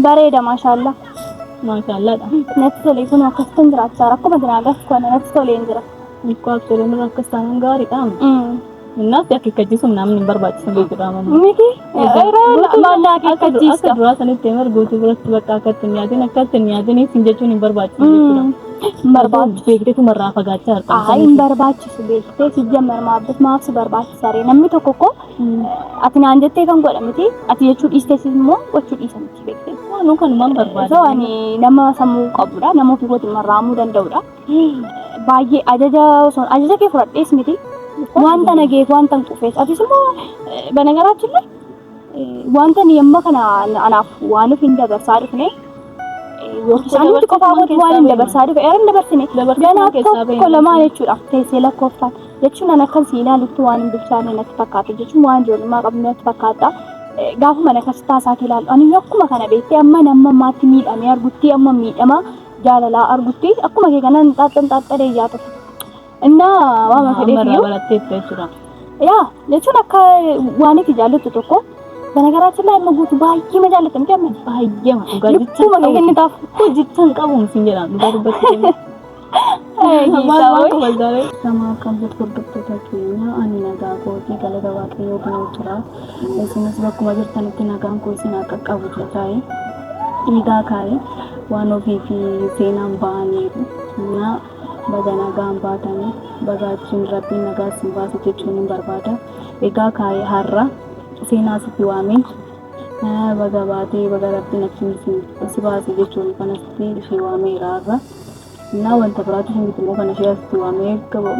Bareeda maashaallah. Maashaallaadha. Natti tolee kun akkasitan jiraachaa rakkuma jiraa gaf kana natti tolee hin jira. Ikkoo abshirii nurra akkas taanaan gaariidha. Innaatti akeekkachiisuun namni hin barbaachisu beekudha ammoo. Miti yeroo maallaa Akka akeekkachiista. duraa sanitti himar guutuu biratti bakka akkatti hin yaadin akkatti hin yaadin isin jechuun hin barbaachisu jechuudha. Barbaadu. Beekteetu marraa fagaachaa jirta. Ayi hin barbaachisu beektee sijjammer maaf maaf si barbaachisa ree namni tokko koo Ati naan jettee kan godha miti. Ati jechuu dhiistees immoo gochuu dhiisa miti beektee. Waanuu kanumaan barbaada. Ta'u ani nama sammuu qabudha. Nama ofii kootiin marraamuu danda'udha. Baay'ee ajaja osoo ajaja kee fudhadhees miti. Wanta na geef wanta hin qufees. Atis immoo banagaraachin wanta ni amma kana anaaf waan hin dabarsaa dhufne. Yookiin nuti qofaa kootii waan hin dabarsaa dhufe. Eeran dabarsine. Dabartee Ganaa keessaa tokko bahe. lamaa jechuudha. Teessee lakkooftaan. jechuun an akkan si ilaalutti waan hin bilchaanne natti fakkaata jechuun waan ijoollummaa qabnu natti fakkaata. Eh, Gaafuma na kastaa isaati ilaalu ani akkuma kana beektee amma namma ammaatti miidhamee argutti amma miidhama jaalalaa argutti akkuma kee kanan xaaxxan xaaxxadee ijaa tokko. Innaa waama Amma fedheef irraa iyyuu baratteetta jechuudha. yaa jechuun akka waan itti jaallattu tokko banagaraachin laa amma guutu baay'ee ma jaallata miti amma Baay'eema dhugaa jecha lubbuma kee kennitaaf. Hojjechaan qabuun sin jedhaan dhugaa dubbachuu. Nama akkam jirtu hordoftoota keenya ani nagaa kootii galata waaqayyoo dinuu jira isinis bakkuma jirtanitti nagaan koo isin haa qaqqabu jedhaa'e dhiigaa kaa'e waan ofii fi seenaan ba'aniiru na baga nagaan baatanii baga achiin rabbiin nagaa isin baase jechuun hin barbaada egaa kaa'e har'a seenaa sitti waamee baga baatee baga rabbiin achiin isin si baase jechuun kanatti ishee waameera har'a. Naa wanta biraatu isin gidduu kan ishee asitti waamee gaba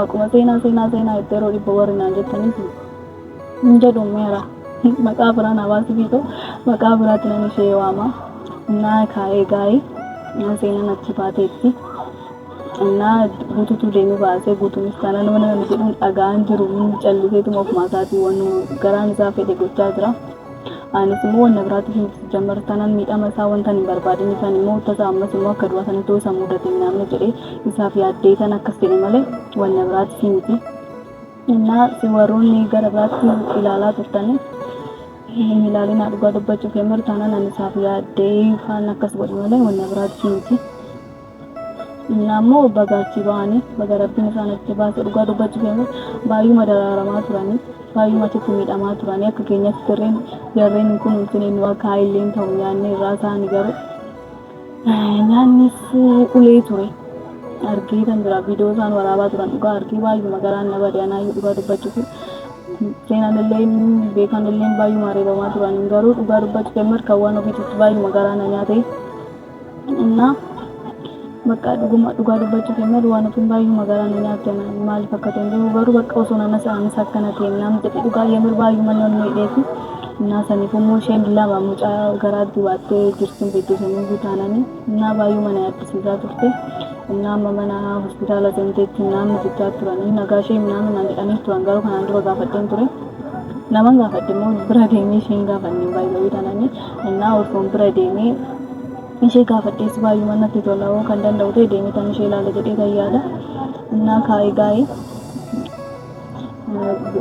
maquma seenaa seenaa seenaa itti yeroo dhibba warri naan jettaniif hin jedhu meera maqaa biraa naa baasuu fiixu maqaa biraatti nan ishee waama naa kaa'ee gaa'ee naa seenaan achi baateetti naa guututu deemee baasee guutuunis taanaan mana kana jedhuun dhagaan jiru calliseetuma ofumaa isaatii waan garaan isaa fedhe gochaa jira. Anis immoo wanna biraatti hin jammar tanan miidhama isaa wanta hin barbaadin isaan immoo tasa ammas immoo akka du'a sana ta'uu isa mudate hin naamne jedhee isaaf yaaddee tan akkas jedhe malee wanna biraatti hin miti. Innaa si warroonni gara biraatti ilaalaa turtanii hin ilaalinaa dhugaa dubbachuuf yammar tanan ani isaaf yaaddee isaan akkas godhe malee wanna biraatti hin miti. Innaa immoo baga achii bahanii baga rabbiin isaan achii baase dhugaa dubbachuuf yoo ta'e baay'uma daraaramaa turanii baay'uma achitti miidhamaa turanii akka keenyatti sirriin jarreen hin kunuunsine nu akka illee hin ta'u nyaanni irraa isaanii garuu eh, nyaannis eh, ulee ture argee kan jira viidiyoo isaan waraabaa turan dhugaa argee baay'uma garaan na bade anaayyuu dhugaa dubbachuuf seenan illee beekan illee baay'uma reebamaa turan garuu dhugaa dubbachuuf markawwan ofiitti baay'uma garaa na nyaate. Innaa bakka dhuguma dhugaa dubbachuuf jennaan waan ofiin baay'ee magaalaa na nyaatu jennaan maaliif akka ta'e hin beeku garuu bakka osoo nana sa'aanis akkana ta'e naan jedhe dhugaa yemir baay'ee manni ol miidheefi innaa saniif immoo isheen lama mucaa garaatti baattee jirtuun beektu sanii iyyuu taananii innaa baay'ee mana yaaddisiisaa turte innaa amma mana hospitaala seenteetti innaan mucichaa turanii nagaa ishee innaan naan jedhanii turan garuu kanaan dura gaafadheen ture. naman gaafadhe immoo bira deemee isheen gaafanne baay'ee taananii Hennaa Urfoon bira deemee ishee gaafadhees baay'uma natti tola hoo kan danda'u ta'e deemee tan ishee ilaala jedhee tan yaada. Hennaa kaa'ee gaa'ee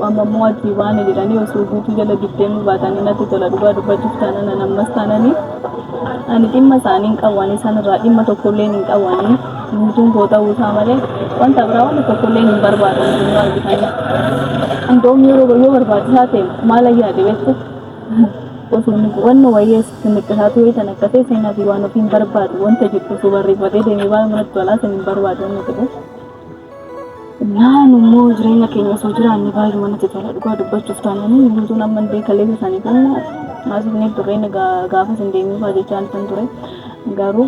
amma immoo achii baane jedhanii osoo guutuu jala giddeemuu baatanii natti tola dhugaa dubbachuuf taanana nammas taananii ani dhimma isaanii hin qabu ani isaan irraa dhimma tokkollee hin qabu ani guutuun koo ta'uu isaa malee wanta biraa wanta tokkollee hin barbaadu hundumaa argitanii. Andoom yeroo yoo barbaachisaa ta'e maal ayyaade beektu osoo nuti wanna wayyee sitti miqqisaatu wayii tan akka ta'e seenaa fi waan ofiin barbaadu wanta jettu osoo barreeffatee deemee baay'ee manatti tolaa san hin barbaadu wanna jedhu. Naan immoo jireenya keenya osoo jiraanne baay'ee manatti tola dhugaa dubbachuuf taananii guutuun amma illee kaleessa isaanii kenna haasofnee turre inni gaa- gaafas hin deemee fa'aa jechaa kan ture garuu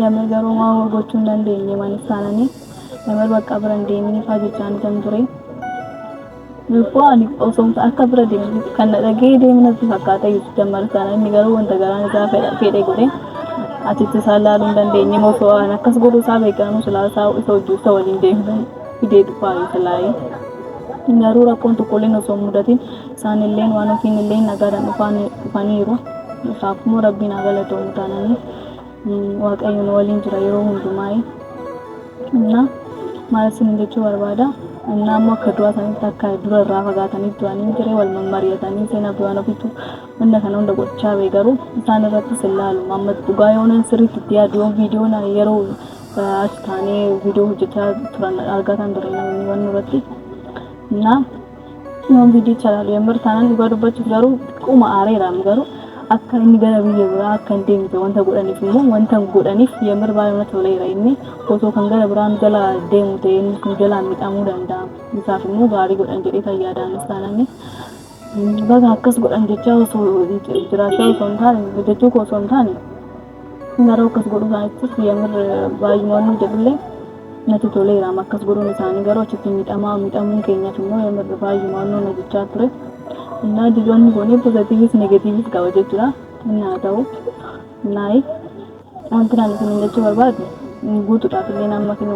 yamee garuu waan gochuu hin dandeenye manis taananii yamee bakka bira hin deemee fa'aa jechaa kan ture. Lubbuu ani osoon akka bira deemu kan na dhagee deemu natti fakkaata jetti jammar sana inni garuu wanta garaan isaa fedhe godhe achitti isaa ilaaluu hin dandeenye moo osoo an akkas godhuu isaa beekaanuu silaa isaa isa hojii isa waliin deemee fidee dhufaa yoo silaayee. Garuu rakkoon tokkolleen osoo hin mudatin isaan illeen waan ofiin illeen nagaadhaan dhufaniiru. Isaaf immoo rabbiin haa galatoomu taananii. Waaqayyo nu waliin jira yeroo hundumaa. Innaa maal isin jechuu barbaada? Innaa immoo akka du'aa sanitti akka dura irraa fagaatanii du'anii hin jiree wal mammari'atanii seenaa du'aan ofitu wanna kana hunda gochaa bee garuu isaan irrattis hin laalu. Amma dhugaa yoonan sirriitti itti yaadu yoon viidiyoo na yeroo achi taanee viidiyoo hojjechaa turan argataan ture namni wanna irratti. Innaa Yoon viidiyicha ilaalu yommuu taanaan dhugaa dubbachuuf garuu xiqquma aareeraam garuu akka inni gara biyya biraa akka hin deemte wanta godhaniif immoo wanta hin godhaniif yommuu baay'ee na toleera inni osoo kan gara biraan jala deemu ta'e inni kun jalaan midhamuu danda'a isaaf immoo gaarii godhan jedhee kan yaadaanis taananii baga akkas godhan jechaa osoo jiraachaa osoo hin taane jechuu koo osoo hin taane Naroo akkas godhuu isaaniittis yamir baay'uma wanni jedhullee natti toleera amma akkas godhuun isaanii garuu achitti miidhamaa miidhamuun keenyas immoo yamir baay'uma wanni na jechaa ture. Innaa jiloonni kun pozitiivis negatiivis qaba jechuudha. Inni haa ta'u naayi wanti naan isin jechuu barbaadu guutuudhaaf illee amma kinu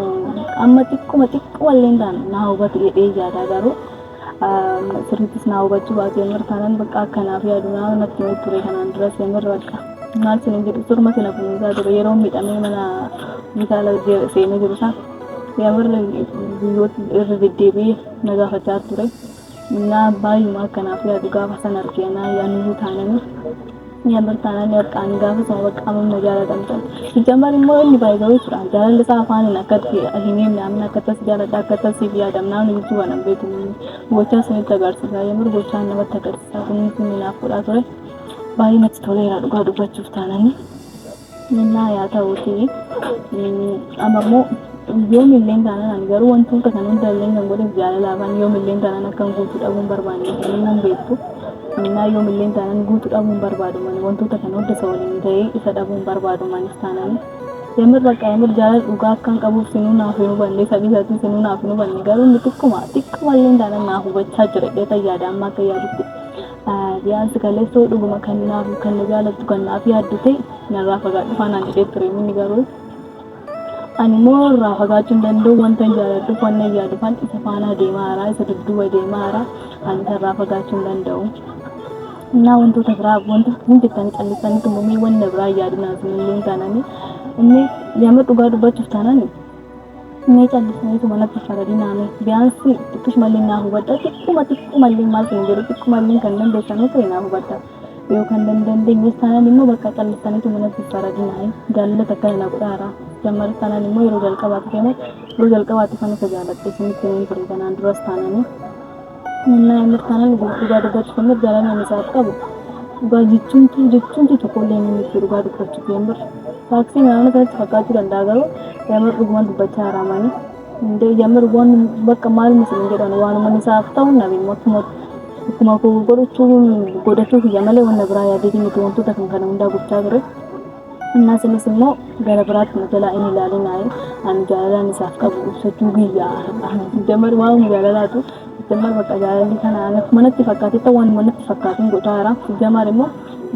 amma xiqquma xiqquma illee taane naa hubatu jedhee yaadaa garuu Sirrittis naa hubachuu baate Yemir taanaan bakka akkanaaf yaadu naa natti hin ture kanaan duras Yemir bakka maal sin hin jedhu turma sina kunuunsaa ture yeroo miidhamee mana hospitaala seenee jiru isaa Yemir guyyoota irra deddeebi'ee na gaafachaa ture. Naa baay'uma akkanaaf yaadu gaafa san argee naa yaanuu taananii Yamar taanaan ni harkaani gaafa sana bakka amam na jaalatan ta'u. Sijjamar immoo inni baay'ee turan jaalalli isaa afaaniin akkatti hin himne amma akka tas jaaladha akka tas siif yaadam naamni jechuu kana beeku gochaa sanitti agarsiisa yamar gochaa namatti agarsiisa kunis inni naaf godhaa ture baay'ee natti toleera dhugaa dubbachuuf taananii. Innaa yaa ta'uuti amma immoo yoomillee taanaan ani garuu wantoota kan hundallee kan godheef jaalala afaan yoomillee taanaan akkan guutuu dhabuun barbaanne inni nan beektu innaa yoomillee taanaan guutuu dhabuun barbaadu mani wantoota kan hunda isa waliin ta'ee isa dhabuun barbaadu manis taanaan yamir bakka yamir jaalala dhugaa akkan qabuuf sinuu naaf hin hubanne sabii isaatiin sinuu naaf hin hubanne garuu inni xiqquma xiqquma illee taanaan naaf hubachaa jira jedhee yaada amma akka yaadutti Biyaansi kaleessoo dhuguma kan naaf kan na jaalattu kan naaf yaaddu ta'e narraa fagaadhu faanaan jedhee ture inni garuu ani immoo irraa fagaachuu hin danda'u wanta hin jaaladhuuf wanta hin yaadufan isa faanaa deemaa jira isa dudduuba deemaa jira ani isa irraa fagaachuu hin danda'u. Innaa wantoota biraa wanta hin jettanii callisanii tumamee wanna biraa yaadinaa isinillee taananii inni nama dhugaa dubbachuuf taananii Mee callisaniituma natti faradinaame biyaansi xiqqishumallee naa hubadha xiqquma xiqqumallee maal kan jedhu xiqqumallee kan dandeessanuu ta'e naa hubadha yoo kan dandeenyes taanaan immoo bakka callisaniituma natti faradinaame jaalallata akkana na godhaara jammaris taanaan immoo yeroo jalqabaati keenas yeroo jalqabaati kan isa jaaladhe isinitti himuun ture kanaan duras taananii Humna mirkanaan jiru dhugaa dubbachuuf ammoo jaalala ani isaaf qabu dhugaa jechuun tuu jechuun tuu tokko illee inni miti dhugaa dubbachuuf yoon bar taaksii naannoo kanatti fakkaachuu danda'a garuu yamar dhugumaan dubbachaa haraamanii hundee yamar waan bakka maaluma isin jedhan waanuma isaaf ta'u nabi mootummaa akkuma koo godhachuu godhachuu kiyya malee wanna biraa yaadee miti wantoota kan kana hundaa gochaa ture. Innaa isinis immoo gara biraatti na jalaa hin ilaalinaayi. Ani jaalalaan isaaf qabu ibsachuu guyyaa har'aa. Jamar waa'uma jaalalaatu jamar bakka jaalalli kana anaf manatti fakkaatetta waan manatti fakkaatuun godhaa jira. Jamar immoo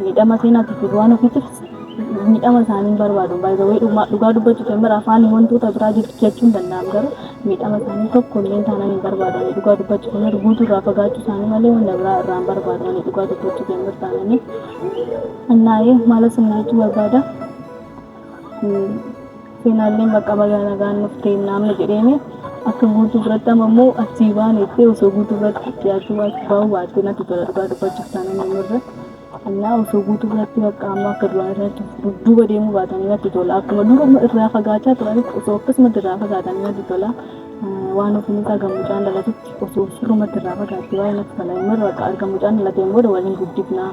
miidhama seenaatiif waan ofiitiif miidhama isaanii hin barbaadu. Baay'ee dhugaa dubbachuuf jamar afaan wantoota biraa jechuun danda'am garuu miidhama isaanii tokko illee taanaan hin barbaadu. Ani dhugaa dubbachuuf jamar guutuu irraa fagaachuu isaanii malee wanta biraa irraa hin barbaadu. Ani dhugaa dubbachuuf jamar taananii. Annaayee maala sinna jechuu barbaada. Seenaallee bakka bagaa nagaan dhuftee naamni jedheeni akka guutuu biratti amma immoo achii baaneettee osoo guutuu biratti dhiyaachuu baachuu baa'uu baattee natti tola dhugaa dubbachuuf taanaan namarra. Annaa osoo guutuu biratti bakka amma akka duraan irratti dudduuba deemuu baatanii natti tola akkuma duruma irraa fagaachaa turanitti osoo akkasumatti irraa fagaatanii natti tola. Waan ofiin isaa gammucaan dhalatutti. osoo sirrumatti irraa fagaatte baay'ee natti tola. Inni irra akka arga mucaan dhalateen booda waliin guddifna.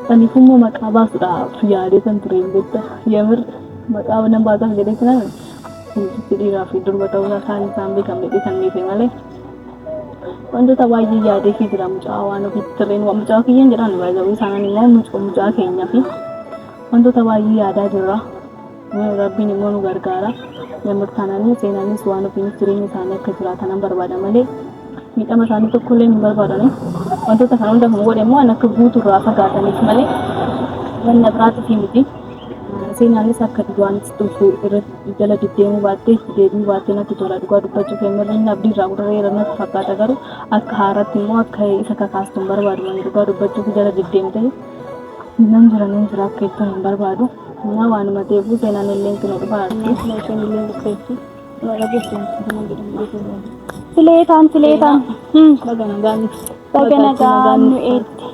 Saniif immoo maqaa baasuudhaaf yaadee san ture hin beekta. Yamir maqaa nan baasaaf jedhee ture miti. Sirriitti dhiiraa fi durba ta'uu isaa isaan isaan beekan fedhii san dhiise malee. Wantoota baay'ee yaadee fi jira mucaa waan ofiitti sirriin waan mucaa kiyyaan jedhaan baay'ee isaaniin immoo mucaa keenyaa fi wantoota baay'ee yaadaa jirra. Rabbiin immoo nu gargaara. Yemmuu taananii seenaanis waan ofiin jireenya isaanii akka jiraatanan barbaada malee miidhama isaanii tokko illee hin barbaadani. Wantoota kana hunda kan godhe immoo an akka guutu irraa fagaataniif malee wanna biraatiif miti. Seenaanis akka duwwaanis dhufu irra jala deddeemuu baattee itti deebi'uu baattee natti tola dhugaa dubbachuu kennarra inni abdii irraa gurrareera natti fakkaata garuu akka haaratti immoo akka isa kakaastu hin barbaadu ani dhugaa dubbachuuf jala deddeemtee nan jira nan jira akka jettu hin barbaadu. Yaa waanuma ta'eefuu seenaan illee itti na dhufa arti. Looteen illee dhufeetti. Waa dhageessan kana jedhamu beekamu. Fileetaan fileetaan. Baga nagaan nuti. Baga nagaan nu eetti.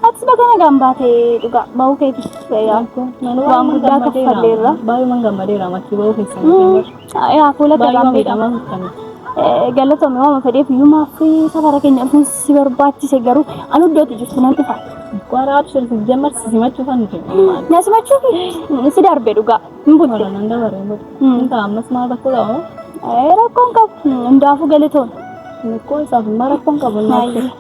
Atis baga nagaan baate dhugaa bahuu keetis waan guddaa kaffalleerra. Baay'uman gammadeera ammatti bahuu keessaniif. Yaa fuula Baay'ee gabaan miidhama. miidhamaa kan. Galatoomii waan fedheef iyyumaa fi safara keenya dhufuu si barbaachise garuu anu iddootti jirtu nan dhufa. Bara abshir sijjamar sisimachuu kan nuti. Na simachuu fi si darbe dhugaa hin butte. Bara nan dabaree booda. Mm. Inta ammas maal rakkoo qaba? Rakkoon qabu hundaafuu galatoomii. Rakkoo isaaf immoo rakkoon qabu. Baay'ee.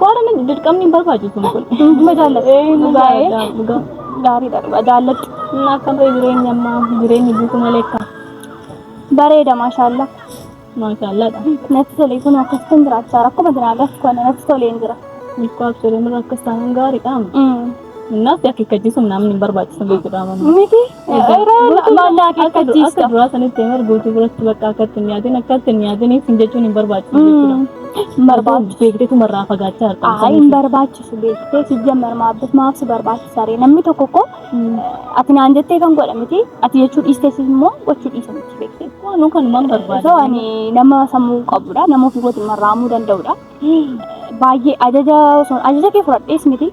Kooraan dirqamni hin barbaachisu kun. Dhuma jaalladha. Dhugaa gaariidha dhugaa jaalladhu. Inni akkam ta'e jireenya ammaa jireenyi buutu malee akka Bareeda maashaallah. maashaallaadha. Natti tole kun akkasitan jiraachaa rakkuma jiraa gaf kana natti toleen jira. Ilkoo abshirin irra akkas taanaan gaariidha. Innaaf akeekkachiisuun namni hin barbaachisu beekudha amanu. Miti Maallaa akeekkachiisa. Akka duraa sanitti himar guutuu biratti bakka akkatti hin nyaatin akkatti hin nyaatin isin jechuun hin barbaachisu jechuudha. Barbaachisu. Beekteetu marraa fagaachaa jirta. Haa hin barbaachisu beektee si jammar maabbis maaf si barbaachisa ree namni tokko koo ati naan jettee kan godha miti ati jechuu dhiistee si immoo gochuu dhiisa miti beektee. Waanuu kanumaan barbaada. Osoo ani nama sammuu qabudha nama ofii kootiin marraamuu danda'udha. Baay'ee ajaja osoo ajaja kee fudhadhees miti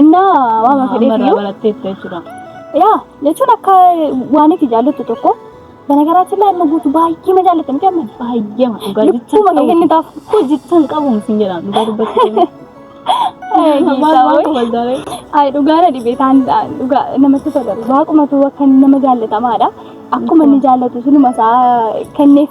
Innaa waama Amma irraa fedheefiyyuu baratteetta jechuudha. yaa jechuun akka waan itti jaallattu tokko banagaraatti illee amma guutuu baay'ee ma jaallatta miti amma Baay'eema dhugaa jechaan lubbuma kee qabu. kennitaaf. Koo jechaan qabu isin jedha dhugaa dubbattee. Ee, Maal hiisaa maal wayii. kabaldaaree. Ay, dhugaa na dhibee taan dhugaa namatti tola. Waaqumatu akka nama jaallatamaadha. Akkuma inni jaallatu sunuma isaa kenneef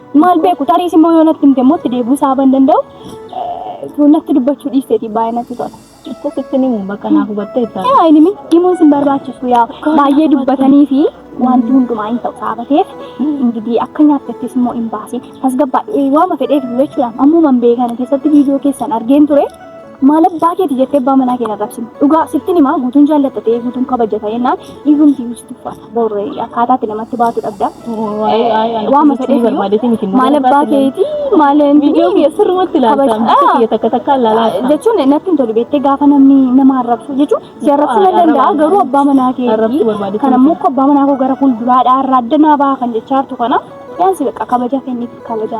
Maal beeku tariis immoo yoo natti himte immoo itti deebi'uu saaban danda'u eh, natti dubbachuu dhiisteeti baay'ee natti tola. Akkasitti ni himu bakka naaf hubattee ta'a. Yaa inni mi himuun sin barbaachisu yaa baay'ee dubbatanii fi wanti hundumaa hin ta'u saabateef ingidihi akka nyaattattis immoo hin baasin tasgabbaa'e waama fedheef jechuudhaan ammuma hin beekane keessatti viidiyoo keessan argeen ture. Maal abbaa keeti jettee abbaa manaa kee arrabsine. Dhugaa sittin himaa guutuun jaalladha ta'ee guutuun kabaja ta'ee naan dhiigumti si tuffata. Boorree akkaataa itti namatti baatu dhabda. Waayee waayee ani Waama akkasitti fedheef barbaadeeti miti. Maal abbaa keeti maal Viidiyoo kiyya sirrumatti ilaalta. Kabaja- Mucaa kiyya takka takka ilaalaa jirta. jechuun natti hin tolu beektee gaafa namni nama arrabsu jechuun si arrabsuu Arraba- nan danda'a arraba- garuu abbaa manaa kee arrabsuu barbaadde kan ammoo akka abbaa manaa koo gara fuulduraadhaa irraa adda naa baha kan jechaa jirtu kana yaansi bakka kabaja kenniif kabaja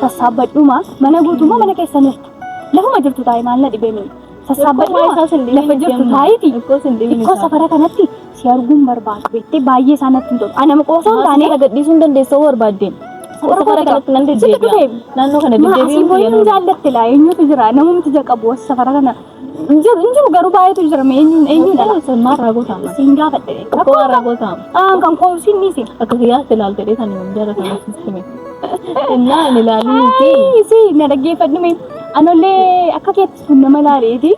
Sassaabbadhuma mana guutummaa mana keessa nirtu. Lafuma jirtu taa'e maal na dhibee mee. Sassaabbadhuma lafa jirtu taa'iti. Ikkoo safara kanatti si arguun barbaadu beektee baay'ee isaa natti hin tolu. Anama qoosoo hin taane. Safara gadhiisuu hin dandeessoo barbaaddeen. Safara kanatti nan deddeebi'a. Naannoo kana deddeebi'uun Asii booyee hin jaallatte laa eenyutu jira namumti jaqabu safara kana. Injiru injiru garuu baay'eetu jira mee eenyuun eenyuun dhala sirnaa raagootaa malee. Siin gaafadhe. Rakkoo raagootaa. Aan kan koomsiin ni si. Akka kiyyaatti ilaalte dheetan hin jaalatamu sistime. Innaa hin ilaalii fi. Ayi si na dhaggeeffadhu mee. Anollee akka keetti kun nama laaleeti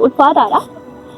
ulfaataadha.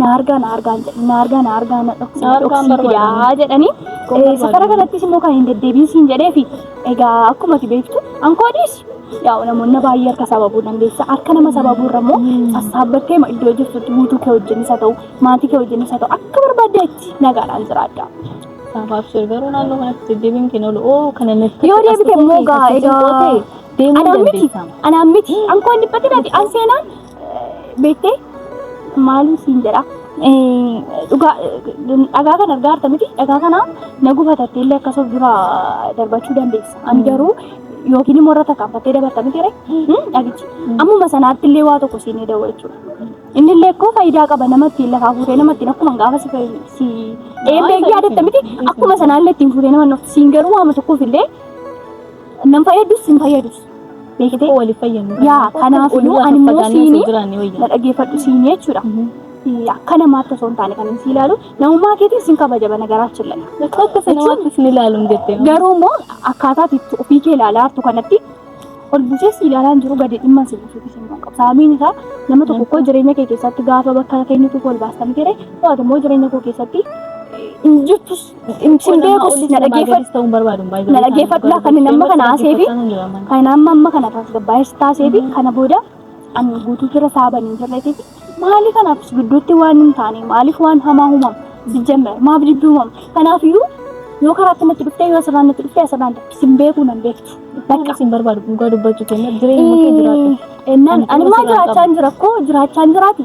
na argaa na argaa jedhe na argaa na argaa na dhoksii na dhoksii fidaa jedhanii safara kanattis immoo kan hin deddeebiin siin jedhee fi egaa akkuma ati beektu ankoodis yaa namoonni baay'ee harka sababuu dandeessa harka nama sababuu irra immoo sassaabbattee iddoo jirtutti guutuu kee wajjin isa ta'u maatii kee wajjin isa ta'u akka barbaadde itti nagaadhaan jiraadha. Abshir garuu naannoo kanatti deddeebiin kee nolu oo kana natti Yoo deebite immoo gaa egaa deemuu anaan miti dandeessa. anaan miti ankoon dhiphatinati an seenaan beektee maalii siin jedha dhugaa dhagaa kana argaa jirta miti dhagaa kana na gubatattee illee akkasuma dura darbachuu dandeessa ani garuu yookiin immoo irra takkaanfattee dabarta miti ree dhagichi ammuma sanaatti illee waa tokko siin dawwa jechuudha inni illee koo faayidaa qaba namatti lafaa fuutee namatti akkuma gaafa si fayyadu si eebbee yaadatta miti akkuma sanaallee ittiin fuutee nama siin garuu waama tokkoof illee Nan fayyadus sin fayyadus. Beekitee waliif fayyadnu. Yaa kanaaf iyyuu ani immoo siini na dhaggeeffadhu siini jechuudha. Akka namaatti osoo hin taane kan inni si ilaalu namummaa keetiin sin kabaja bana garaachuun laga. Akka sanamaatti sin ilaalu hin jettee. Garuu immoo akkaataa itti ofii kee ilaalaa jirtu kanatti ol buusee si ilaalaa hin jiru gadi dhimma si buusuuti sin qabu. Saamiin isaa nama tokko koo jireenya kee keessatti gaafa bakka keenyutu ol baastan ture to'atu immoo jireenya koo keessatti hin jirtus Sin beekus na dhageeffadhu. Na dhageeffadhu laa kan amma kana haasee fi kan amma amma kana tasgabbaa'ee si taasee fi kana booda an guutuu fira saaba hin jirreetii fi maali kanaaf si gidduutti waan hin taane maaliif waan hamaa uumama sijjammer maaf dibbi uumama kanaaf iyyuu yoo karaatti natti dhuftee yoo asirraan natti dhuftee asirraan natti sin beekuu nan beektu. Bakka sin barbaadu dhugaa dubbachuu keenya jireenya kee jiraatu. Ennaan ani maa jiraachaa hin jira koo jiraachaa hin jiraati.